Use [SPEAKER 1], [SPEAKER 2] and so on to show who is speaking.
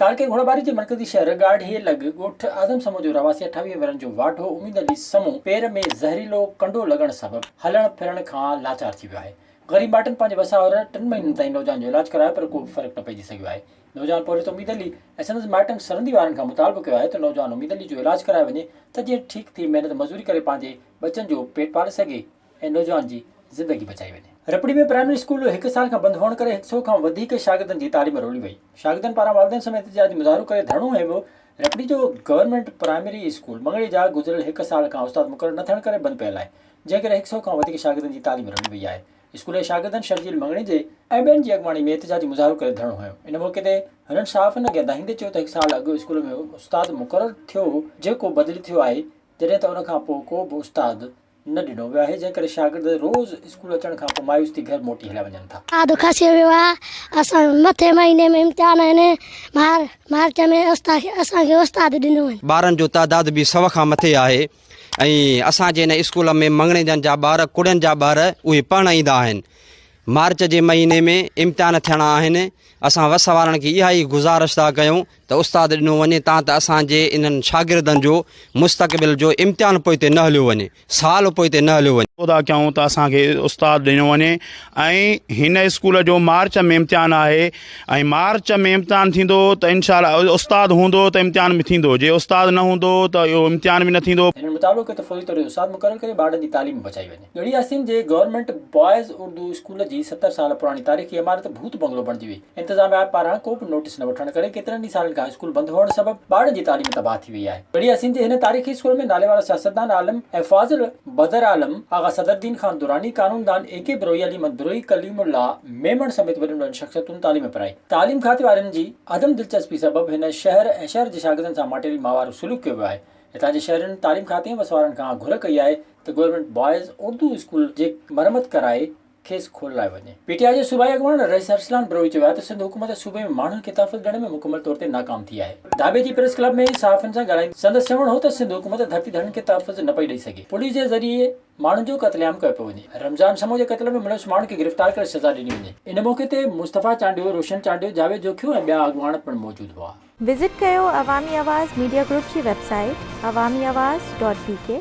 [SPEAKER 1] تعلقي گهوڙاٻاري جي مرڪزي شهر ڳاڙهي لڳ ڳوٺ اعظم سمون جو رهواسي اٺاويهه ورهين جو واڍو اميد علي سمون پير ۾ زهريلو ڪنڊو لڳڻ سبب هلڻ ڦرڻ کان لاچار ٿي ويو آهي. غريب مائٽن پنهنجي وساهر ٽن مهينن تائين نوجوان جو علاج ڪرايو پر ڪو به فرق نه پئجي سگهيو آهي. نوجوان پورهيت اميد علي ۽ سندس مائٽن سرندي وارن کان مطالبو ڪيو آهي ته نوجوان اميد علي جو علاج ڪرايو وڃي ته جيئن ٺيڪ ٿي محنت مزوري ڪري پنهنجي ٻچن جو پيٽ پالي سگهي. ۽ نوجوان جي زندگي بچائي وڃي. رپڙي ۾ پرائمري اسڪول هڪ سال کان بند هئڻ ڪري هڪ سئو کان وڌيڪ شاگردن جي تعليم رولي وئي. شاگردن پاران والدين سميت احتجاجي مظاهرو ڪري ڌرڻو هنيو ويو. رپڙي جو گورنمينٽ پرائمري اسڪول مڱڻي جا گذريل هڪ سال کان استاد مقرر نه ٿيڻ ڪري بند پيل آهي، جنهن ڪري هڪ سئو کان وڌيڪ شاگردن جي تعليم رولي وئي آهي. اسڪول جي شاگردن شرجيل مڱڻي جي ۽ ٻين جي اڳواڻي ۾ احتجاجي مظاهرو ڪري ڌرڻو هنيو. ان موقعي تي هنن صحافين اڳيان دانهيندي چيو ته هڪ سال اڳ اسڪول ۾ استاد مقرر ٿيو هو جيڪو بدلي ٿيو آهي جڏهن ته ان کان پوء ڪو به استاد نه ڏنو ويو آهي، جنهن ڪري شاگرد روز اسڪول اچڻ کان پوء مايوس ٿي گهر موٽي هليا وڃن ٿا. ڏاڍو کسي ويو
[SPEAKER 2] آهي، اسان جا مٿين مهيني ۾ امتحان آهن، مار مارچ ۾ اسان کي استاد ڏنو آهن. ٻارن جو تعداد به
[SPEAKER 3] سؤ کان مٿي آهي ۽ اسان جي ان اسڪول ۾ مڱڻيجن جا ٻار ڪڙين جا ٻار اهي پڙهڻ ايندا آهن، مارچ جي مهيني ۾ امتحان ٿيڻا آهن، اسان وس وارن کي اها ئي گذارش ٿا ڪيون ته استاد ڏنو وڃي تان ته اسان جي انهن شاگردن جو مستقبل جو امتحان پوئتي نه هليو وڃي، سال پوئتي نه هليو وڃي. خدا ڪيون ته اسان کي
[SPEAKER 4] استاد ڏنو وڃي ۽ هن اسڪول جو مارچ ۾ امتحان آهي ۽ مارچ ۾ امتحان ٿيندو ته انشاء الله استاد هوندو ته امتحان به ٿيندو جي استاد نه هوندو ته اهو امتحان به نه ٿيندو. هن مطالبو ڪيو ته فوري
[SPEAKER 1] طور استاد مقرر ڪري ٻارڙن جي تعليم بچائي وڃي. ڳڙهي آستين جي گورنمينٽ بوائز اردو اسڪول جي ستر سال پراڻي تاريخي عمارت ڀوت بنگلو بڻجي وئي، انتظاميا پاران ڪو به نوٽيس نه وٺڻ ڪري ڪيترن ئي سالن کان اسڪول بند هئڻ سبب ٻارڙن جي تعليم تباهه ٿي وئي آهي. ڳڙهي آستين جي هن تاريخي اسڪول ۾ ناليوارا سياستدان عالم ۽ فاضل بدر عالم، آغا صدرالدين خان دراني، قانوندان اي ڪي بروهي، علي محمد بروهي، ڪليم الله ميمڻ سميت وڏين وڏين شخصيتن تعليم پرائي. تعليم کاتي وارن جي عدم دلچسپي سبب هن شهر ۽ شهر جي شاگردن سان ماٽيري ماهوارو سلوڪ ڪيو ويو آهي. هتان جي شهرين تعليم کاتي ۽ وس وارن کان گهر ڪئي آهي ته گورنمينٽ بوائز اردو اسڪول جي مرمت ڪرائي کيس کولرائي وڃي. پي ٽي آء جي صوبائي اڳواڻ رئيس ارسلان بروهي چيو آهي ته سنڌ حڪومت صوبي ۾ ماڻهن کي تحفظ ڏيڻ ۾ مڪمل طور تي ناڪام ٿي آهي. ڍاٻي جي پريس ڪلب ۾ صحافين سان ڳالهائيندي سندس چوڻ هو ته سنڌ حڪومت ڌرتي ڌڻين کي تحفظ نه پئي ڏئي سگهي، پوليس جي ذريعي ماڻهن جو قتل عام ڪيو پيو وڃي، رمضان سمون جي قتل ۾ ملوث ماڻهن کي گرفتار ڪري سزا ڏني وڃي. ان موقعي تي مصطفيٰ چانڊيو، روشن چانڊيو، جاويد جوکيو ۽ ٻيا اڳواڻ پڻ موجود هئا. وزٽ ڪيو
[SPEAKER 5] عوامي آواز ميڊيا گروپ جي web
[SPEAKER 1] site
[SPEAKER 5] Awami Awaz dot بي ڪي.